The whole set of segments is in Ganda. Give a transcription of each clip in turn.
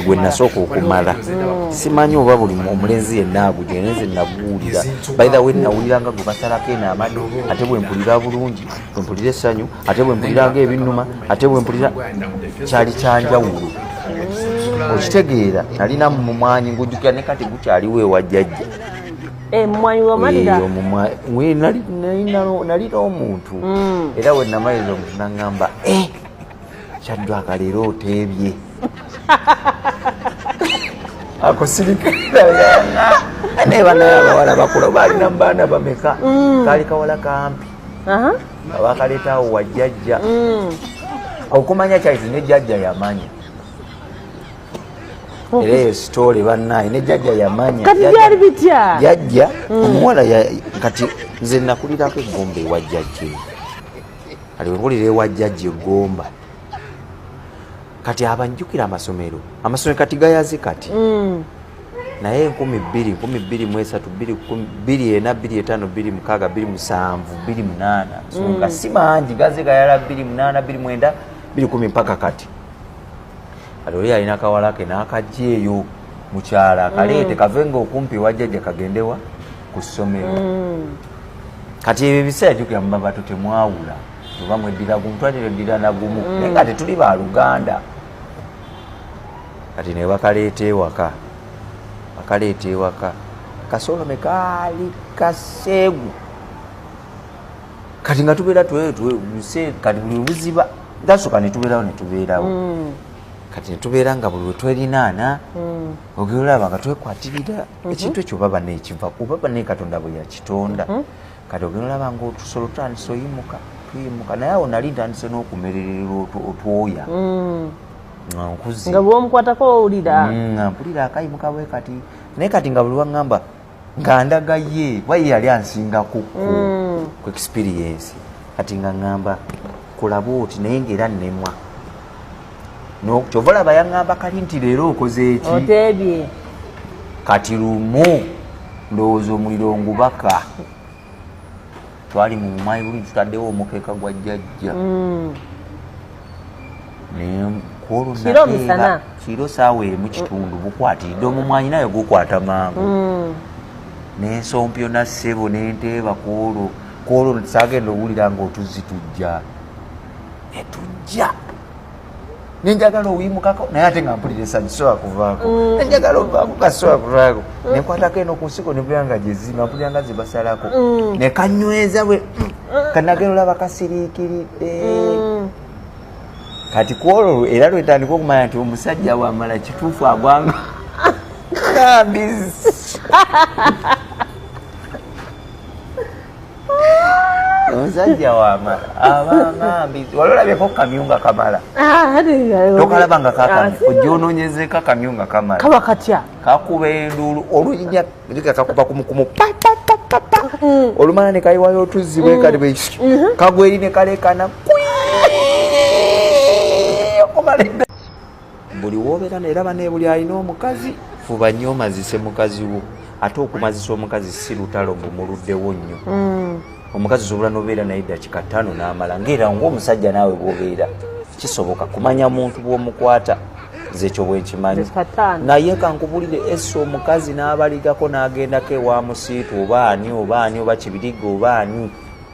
gwe nasooka okumala hmm. simanyi oba buli omulenzi yenna agudde naye nze naguwulira baitha we nawuliranga gwe basalako eno amadu ate bwe mpulira bulungi bwe mpulira essanyu ate bwe mpuliranga ebinnuma ate bwe mpulira kyali kyanjawulo hmm. okitegeera nalina mumwanyi ngujjukira ne kati gukyaliwo ewa jjajja eh, nalina omuntu hmm. era wenamaliriza omuntu nangamba eh, kyaddwaka leero oteebye akusirikanaebanaye abawala bakula baalina mubaana bameka mm. kaali kawala kampi abakaleetaawo wajjajja mm. okumanya kyaizi ne jjajja yamanya era eyo sitoole bannaye ne jjajja yamanya kati byali bitya jjajja mm. omuwala kati nze nakulirako eggumba ewa jjajja kati wewulira ewa jjajja egomba kati abanjukira amasomero amasomero kati gayaze kati mm. naye enkumi bbiri nkumi bbiri mu esatu bbiri ena bbiri etaano bbiri mukaaga bbiri musanvu bbiri munaana mm. nga si mangi gaze gayala bbiri munaana bbiri mwenda bbiri kumi mpaka kati kati oli yalina akawala ke n'akajja eyo mukyala akaleete mm. kave nga okumpi wajjajja kagendewa ku ssomero mm. kati ebyo ebiseera jukira mubabato temwawula oba mweddira gumu twatera eddira nagumu mm. naye nga tetuli ba luganda kati ne bakaleeta ewaka bakaleeta ewaka kasolome kaali kaseegu kati nga tubeera kati buli buziba gasoka netubeerawo netubeerawo mm. kati netubeera nga buli wetwerinaana mm. ogera olaba nga twekwatirira mhm. ekintu ekyo baba nekiva kubaba naye katonda bwe yakitonda mhm. kati ogenda olaba nga otusolo tutandise oyimuka tuyimuka naye awo nali ntandise n'okumererera otwoya mm. nkuzi nga bwomukwatako owulira mm, nga mpulira akayimuka bwe kati naye kati nga buli waŋŋamba nga ndaga ye kuba ye yali ansingako ku mm. experience kati nga ŋŋamba kulaba oti naye ngaera nnemwa no kyova olaba yaŋŋamba kali nti leero okoze eki oteebye kati lumu ndowooza omuliro ngubaka twali mu mumayi buli tutaddewo omukeeka gwa jjajja mm. kwolunakiro misana kiro saawa emu kitundu bukwatiridde omumwanyi naye gukwata mangu mm. nensompyo nassebo nenteeba kwolwo kwolwo sagenda owulira nga otuzzi tujja etujja nenjagala owimukako naye ate nga mpulira esanyu sobola kuvaako mm. nenjagala ovaako kasobola kuvaako mm. nenkwatako eno ku nsiko nebuyanga gyezima mpulira nga zebasalako mm. nekanyweza bwe kanagera olaba kasiriikiridde kati kwolwo era lwetandika okumanya nti omusajja wamala kituufu agwanga kabizi omusajja wamala abamambi wali olabyeko kamyu nga kamala ah, tokalaba nga kakamya ah, ojja ononyezeka kamyu nga kamala kaba katya kakuba enduulu oluyinya ga kakuba kumukumu papapapapa mm. olumala ne kayiwayo otuzzi bwekati mm. bwe mm-hmm. kagweri ne kalekana buli wobeera neraba nebuli alina omukazi fuba nnyo omazise mukazi wo ate okumazisa omukazi si lutalo mbu muluddewo nnyo mm. omukazi osobola nobeera naye dakika ttaano n'amala ngaera ngaomusajja naawe bwobeera kisoboka kumanya muntu bwomukwata zekyo bwenkimanyi naye kankubulire ese omukazi n'abaligako n'agendako ewa musiitu oba ani oba ani oba kibiriga oba ani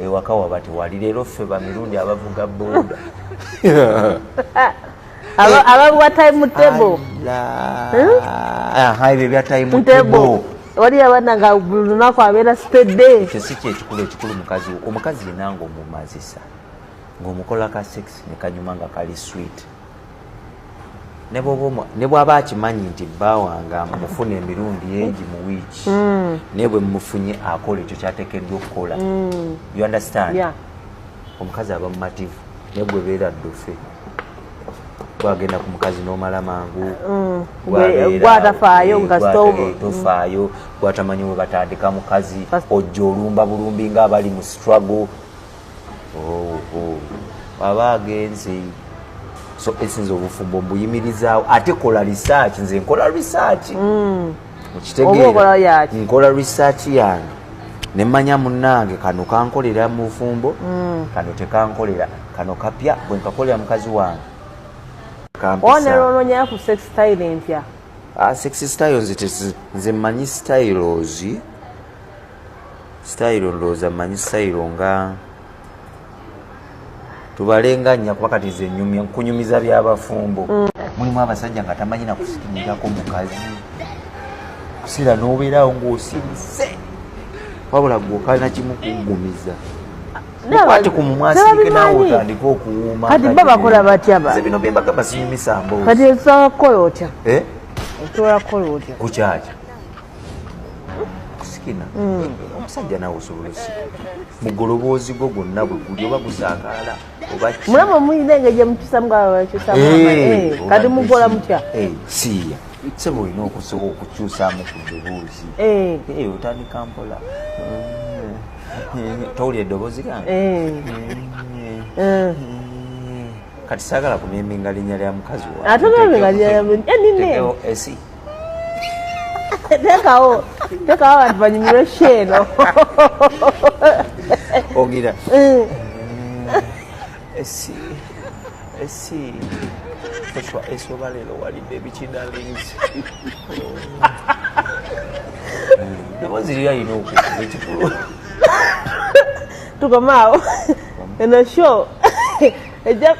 ewaka waba tewali leero ffe bamirundi abavuga boda abavuga time table ebyo bya time table waliyo abana nga buli lunaku abeera stede ekyo si kyekikulu ekikulu mukazi omukazi yenanga omumazisa ngaomukola ka sex nekanyuma nga kali swit ne bwaba akimanyi nti bba wange amufuna emirundi egi mu wiiki mm. naye bwe mumufunye akola ekyo kyatekeddwa okukola mm. you understand omukazi aba mumativu naye gwe beera ddufe gwagenda ku mukazi n'omala mangu mm. gwatafaayo eh, tofaayo gwatamanyi we batandika mukazi ojja olumba bulumbi ng'abali mu struggle aba agenze so esinza obufumbo mbuyimirizaawo ate kola research nze nkola research mm. okitegeera nkola research yange nemanya munange kano kankolera mu bufumbo mm. kano tekankolera kano kapya bwenkakolera mukazi wange onerononyayo ku sex style empya ah, sex styles nze manyi styles sitayiro ndowooza mmanyi sitayiro nga tubalenga nnya kuba kati ze nyumya nkunyumiza byabafumbo mm. mulimu abasajja nga tamanyi nakusikinyirako mukazi kusira n'obeerawo ng'osirise wabula gwokalina kimu kugumiza mukwate ku mumwasirike nawe otandike okuwuuma kati ba bakola batya ba bino bembaga basinyumisa mboozi kati osobola kukola otya eh? osobola kukola otya kukyakya sikina mm. omusajja nawe osobola osika mugoloboozi gwo gwonna bwe guli oba gusakaala mulaba omuyina engeje eh, mukyusamukati eh, mugola mutya eh, siiya sebo olina okusobola okukyusamu ku ddoboozi otandika mpola towuli eddoboozi gange kati saagala kumimbinga linnya lya mukazi wa tekawo tekawo abantu banyumirwe sheeno ogira mm. esi esi oswa esi oba leero walidde ebikinalings nabo ziri alina okukuba ekikulu tukomaawo eno show ejja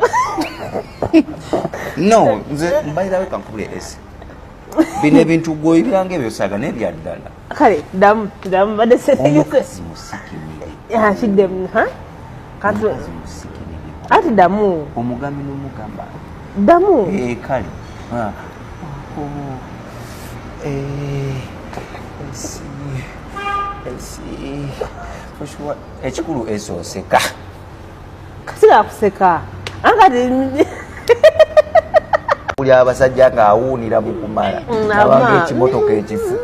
no nze mbairawe kankubule esi bino ebintu gwoyibiranga ebyosaga naye byaddala kale damu damu badde seomukazi musikimidekiddemu ati damu omugami nomugamba damu eh, kale ah. oh. eh, ekikulu esooseka sinakuseka angati buli abasajja ng'awuunira mu kumala nabanga ekimotoka ekifu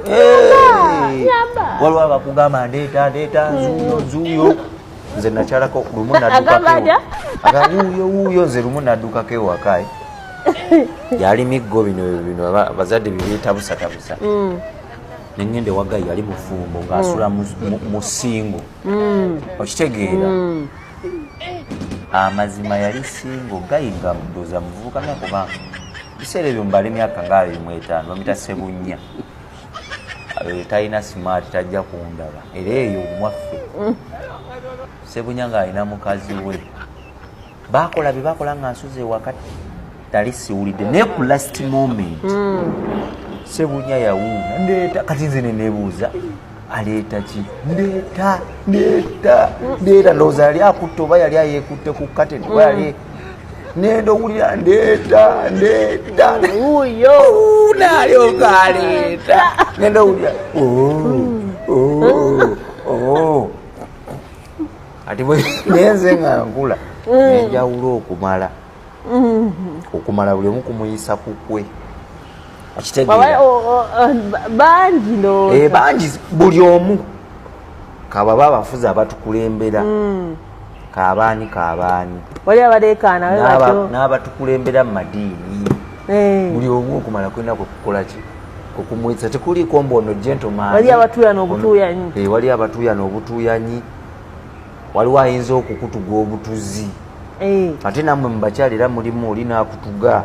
waliwo abakugamba ndeeta ndeeta nzuuyo nzuuyo nze nakyalako lumu nadukakewuuyowuuyo nze lumu naddukako ewakae yali miggo bino bino abazadde bibyetabusatabusa mm. nengenda ewagayi yali mufumbo ngaasula musingo mm. mm. okitegeera mm. amazima yali singo gayi nga mudoza muvubuka nakuba biseera ebyo mbala emyaka nga abiri mu etaano bamita sebunya eh, talina smart tajja kundaba era eyo omwaffe sebunya ng'alina mukazi we bakola bye bakola nga nsuze ewaka tali siwulidde naye ku last moment hmm. sebunya yawuuna ndeeta kati nze nenebuuza aleeta ki ndeeta ndeeta ndeeta ndowooza yali akutte oba yali ayekutte ku kateni oba yali hmm. nenda owulira ndeeta ndeeta nalyoka aleeta nenda owulira oh, oh, oh. ati naye nze nga nkula mm. nenjawulo okumala mm-hmm. okumala buli omu kumuyisa kukwe bangi eh, bangi buli omu kababa abafuzi abatukulembera mm. kabaani kabaani n'abatukulembera mu madiini eh. buli omu okumala kulina kwekukolaki okumwisa tekuliiko mbu ono gentlemaani wali abatuuyana obutuuyanyi eh, waliwo ayinza okukutuga obutuzi eh. ate namwe mubakyala era mulimu oli nakutuga